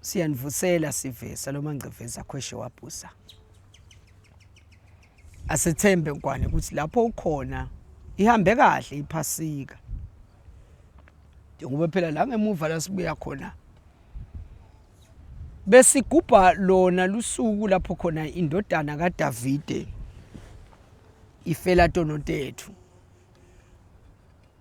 siyanivusela sivisa lo mangcevezi akhweshe wabhusa asethembe nkwane ukuthi lapho ukhona ihambe kahle iphasika njengoba phela la ngemuva la sibuya khona besigubha lona lusuku lapho khona indodana kaDavide ifela tonotethu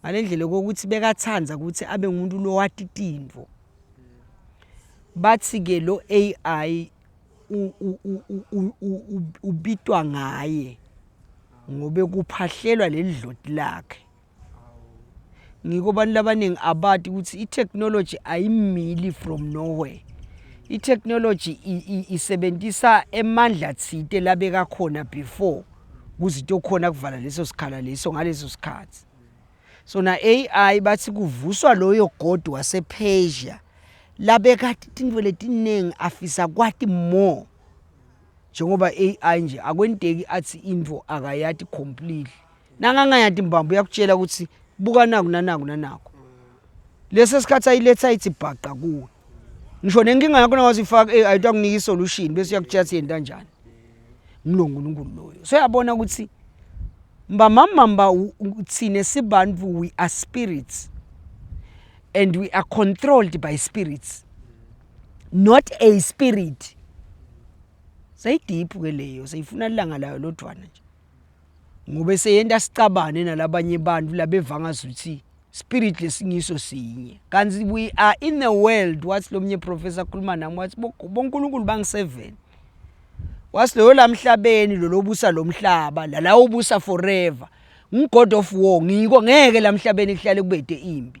ngalendlela kokuthi bekathanda ukuthi abe ngumuntu lowati tintfo bathi ke lo AI ubitwa ngaye ngobe kuphahlelwa leli dloti lakhe ngiko abantu labaningi abati ukuthi i-technology ayimili from nowhere i-technology isebenzisa emandla thite labekakhona before kuzinto okukhona kuvala leso sikhala leso ngaleso sikhathi so na AI bathi kuvuswa loyo god wasePersia labekade tintfo letiningi afisa kwati more njengoba AI nje akwenteki athi info akayati completely nangangayati mbamba uyakutshela ukuthi buka naku nanaku nanaku lesi sikhathi ayiletha ithi bhaqa kuwe ngisho nenkinga yakho nawazi ifaka eh ayitwa kunika isolution bese uyakutshela ukuthi yenta kanjani nginonkulunkulu loyo so yabona ukuthi mbamamamba thina sibantu we are spirits and we are controlled by spirits not a spirit seyideep ke leyo seyifuna ilanga layo lodwana nje ngobe seyenta sicabane nalabanye bantfu labevanga ukuthi spirit lesingiso sinye kanti we are in the world wathi lomnye professor akhuluma nami wathi bonkulunkulu bangi-seven wathi loyo lamhlabeni lolobusa lomhlaba lalawubusa forever ngigod of war ngiko ngeke lamhlabeni kuhlale kubede impi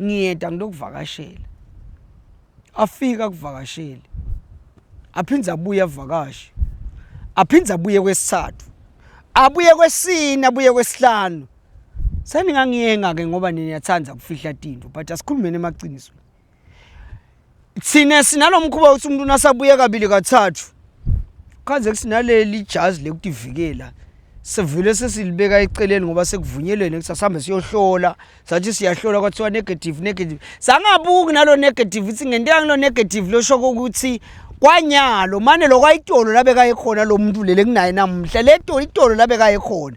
ngiyeda ngilokuvakashela afika kuvakasheli aphinde abuye avakashe aphinde abuye kwesithathu abuye kwesine abuye kwesihlanu seningangiyenga-ke ngoba nina yathanda ukufihla tinto but asikhulumeni emaqiniso thina sinalo mkhuba ukuthi umuntu nasabuye kabili kathathu khanze kusinaleli ijazi lekutivikela sivele sesilibeka eceleni ngoba sekuvunyelwene ukuthi asihambe siyohlola sathi siyahlola kwathiwa negative negative sangabuki nalo negative ukuthi ngento yangilo negative losho ukuthi kwanyalo mane lokwayitolo labekaye khona lo muntu lele kunaye namuhla le tolo itolo labekaye khona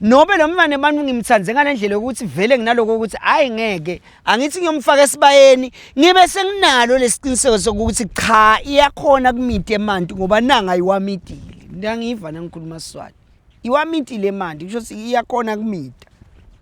nobe lo mfana abantu ngimthande ngale ndlela yokuthi vele nginaloko ukuthi hhayi ngeke angithi ngiyomfaka esibayeni ngibe senginalo lesiqiniseko sokuthi cha iyakhona kumiti emanti ngoba nanga iwamitile ngiyangiva nangikhuluma swati iwamitile emanti kusho ukuthi iyakhona kumita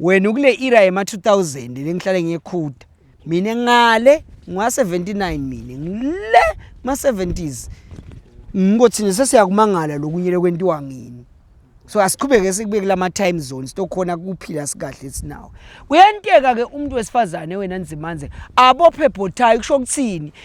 wena ukule era yema 2000 lengihlale ngiyekhuda mina ngale ngwa 79 mina ngile ma 70s ngikothini sesiyakumangala lokunyele kwentiwa ngini so asiqhubeke sikubeke lama time zones tokhona kuphila sikahle sinawo kuyenteka ke umuntu wesifazane wena nzimanze abophe bhothayi kusho ukuthini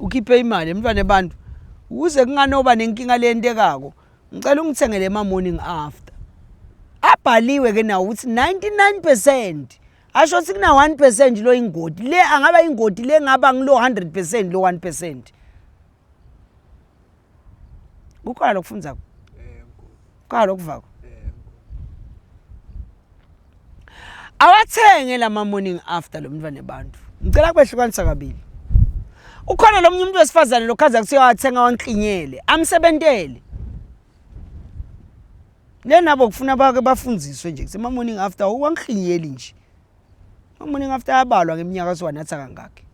ukhiphe imali emntwana abantu ukuze kunganoba nenkinga leyentekako ngicela ungithengele ema-morning after abhaliwe ke nawo ukuthi 99 percent asho ukuthi kuna-1 percent lo ingoti le angaba ingoti le ngaba ngilo 100 percent lo 1 percent kukhona lokufundzako kukhona lokuvako awathenge lama morning after lo mntwana abantu ngicela kubehlukanisa kabili ukhona lo munye umuntu wesifazane lokhaza kuthiwa wathenga wanklinyele amsebentele lenabo kufuna bake bafundiswe nje kusema morning after uwanklinyeli nje Amaningi after ayabalwa ngeminyaka siwanatha kangaki.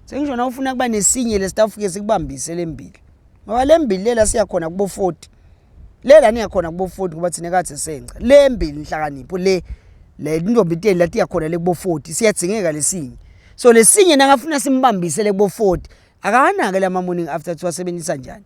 Sengisho na ufuna kuba nesinye lesitafike sikubambise lembili. Ngoba lembili lela siya khona kubo 40. Lela niya khona kubo 40 ngoba thina kathi senca. Lembili inhlakanipho le le intombi iteni lati yakhona le kubo 40 siyadzingeka lesinye. So lesinye nakafuna simbambise le kubo 40 akanake lama morning after siwasebenzisa njani.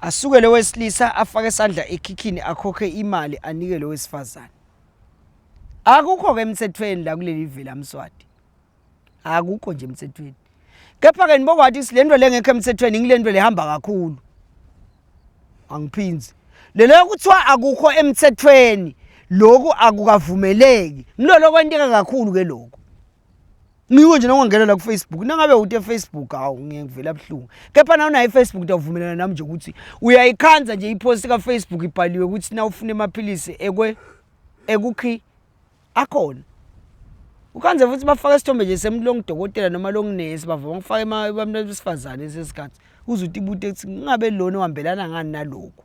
Asuke lo wesilisa afake isandla ekhikhini akhokhe imali anike lo wesifazane. Akukho ke emthethweni la kuleli vela Mswati. Akukho nje emthethweni. Kepha ke nibokwathi silento lengekho emthethweni ngilento lehamba kakhulu. Angiphinzi. Lelo kuthiwa akukho emthethweni lokhu akukavumeleki. Ngilolo kwenteka kakhulu ke lokho. Ngiko nje nongangena la kuFacebook. Nangabe uthi eFacebook hawu ngiye ngivela buhlungu. Kepha nawe naye eFacebook utawuvumelana nami nje ukuthi uyayikhanza nje ipost ka Facebook ibhaliwe ukuthi na ufuna amaphilisi ekwe ekukhi akhona. Ukhanze futhi bafaka isithombe nje semlong dokotela noma long nurse bavuma ukufaka emabamntu besifazane sesikhathi. Uzuthi ibute ukuthi ngabe lona uhambelana ngani nalokho.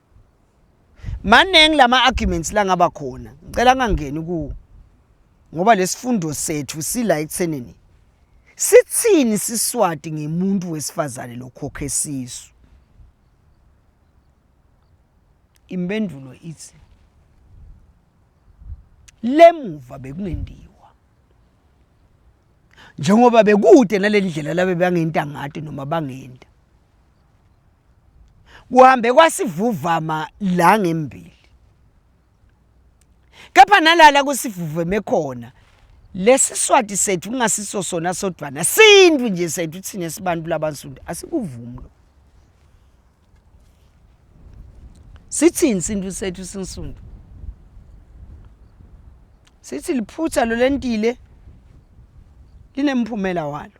maningi lama arguments langaba khona ngicela ngangeni ku ngoba lesifundo sethu sila ekuthenini sithini siswati ngemuntu wesifazane lokhokhe sisu impendulo ithi lemuva bekungendiwa njengoba bekude nalendlela labe bangenta ngathi noma bangenta kuhambe kwasivuvama la ngembili kepha nalala kusivuveme khona lesi swati sethu kungasiso sona sodwana sintu nje sethu thina sibantu labansundu asikuvumi lo sithini sintu sethu sinsundu sithi liphutha lo lentile linemphumela walo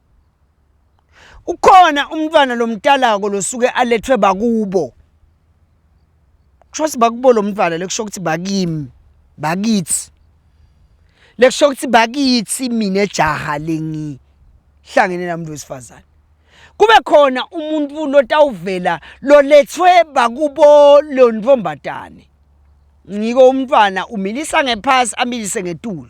ukhona umntwana lomtalako losuke alethwe bakubo kusho ukuthi bakubo lo mntwana lekusho ukuthi bakimi bakithi lekusho ukuthi bakithi mina jaha lengihlangene nami wesifazane kube khona umuntu lotawuvela lolethwe bakubo lo ntombatane ngiko umntwana umilisa ngephasi amilise ngetulo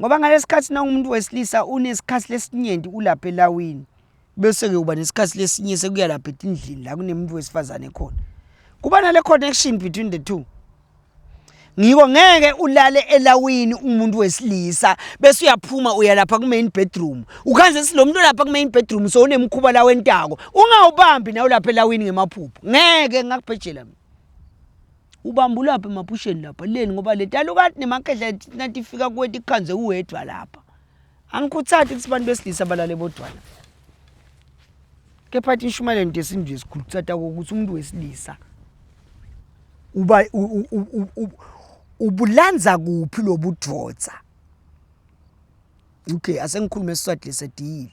ngoba ngalesikhathi nawumuntu wesilisa unesikhathi lesinyenti ulapha elawini bese-ke uba nesikhathi lesinye sekuya lapha etindlini la kunemuntu wesifazane khona kuba nale connection between the two ngiko ngeke ulale elawini umuntu wesilisa bese uyaphuma uya lapha ku-main bedroom ukhanze si lo muntu olapha ku-main bedroom so unemkhuba la wentako ungawubambi nawe lapha elawini ngemaphupho ngeke ngakubhejela mina Ubambulaphi emaphusheni lapha leni ngoba le talukati nemakhehla nathi ifika kuwe tikhanze uwedwa lapha. Angikhuthati ukuthi abantu besilisa balale bodwana. Kepha athi ishumayelo nje sintu nje sikhulu kutsata ukuthi umuntu wesilisa uba ubulanza kuphi lobudvodza. Okay asengikhulume isiswati lesediyile.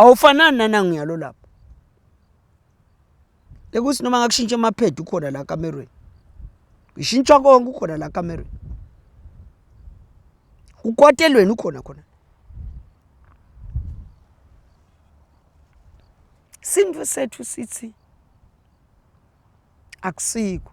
awufanani nanangiyalo lapho ekuthi noma ngakushintsha emaphedi ukhona la kamerweni ngishintsha konke ukhona la kamerweni ukwatelweni ukhona khona sintu sethu sithi akusiko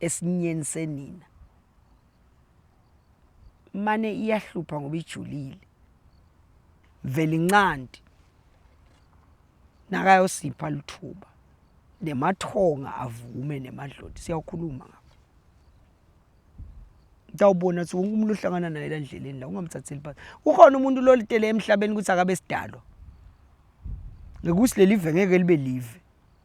esinyeni senina mane iyahlupha ngoba ijulile vele incandi nakayosipha lithuba nemathonga avume nemadloti siyawukhuluma ngapha utawubona ukuthi wonke umuntu ohlangana naye la ndleleni la ungamthatheli phansi ukhona umuntu lolitele emhlabeni ukuthi akabe sidalwa ngekuthi leli ve ngeke libe live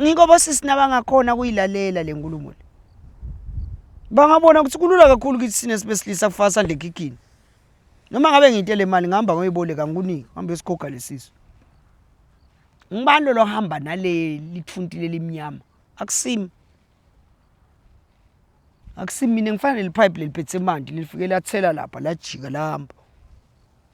Ngikho bosisi nabangakhona kuyilalela le nkulumo le. Bangabona ukuthi kulula kakhulu ukuthi sine sibesilisa kufaka sandle ekhikhini. Noma ngabe ngiyitele imali ngihamba ngoyiboleka ngikunike, hamba esigoga lesisu. Ngibani lo lohamba nale lithuntile limnyama? Akusimi. Akusimi mina ngifana nelipipe leliphethe manje lifike lathela lapha lajika lahamba.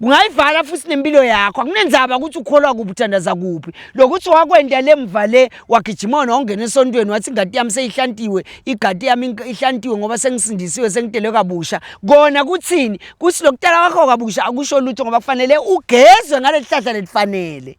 kungayivala futhi nempilo yakho akunenzaba ukuthi ukholwa kuphi uthandaza kuphi lokuthi wakwenda lemva le wagijima wona wangena esontweni wathi ingadi yami seyihlantiwe igadi yami ihlantiwe ngoba sengisindisiwe sengidelwe kabusha kona kuthini kuthi lokutala kwakho kabusha akusho lutho ngoba kufanele ugezwe ngaleli hlahla lelifanele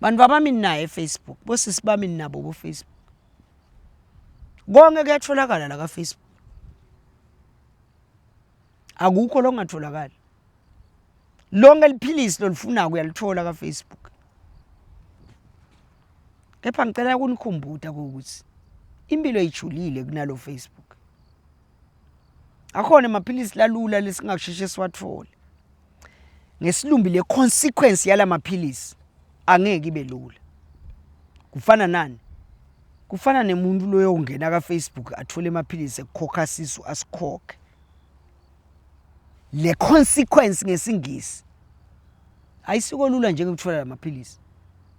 bantu abami naye efacebook bosisi bami ninabo bofacebook konke kuyatholakala la kafacebook akukho longatholakali lonke liphilisi lolifunako uyalithola kafacebook kepha ngicela kunikhumbuta kokuthi impilo ijulile kunalo facebook akhona amaphilisi lalula lesingasheshe siwathole ngesilumbi le consequence yalamaphilisi angeke ibe lula kufana nani kufana nemuntu loyo ungena ka Facebook athole amaphilisi ekukhokha sisu asikhokhe le consequence ngesingisi ayisiko lula njengokuthola lamaphilisi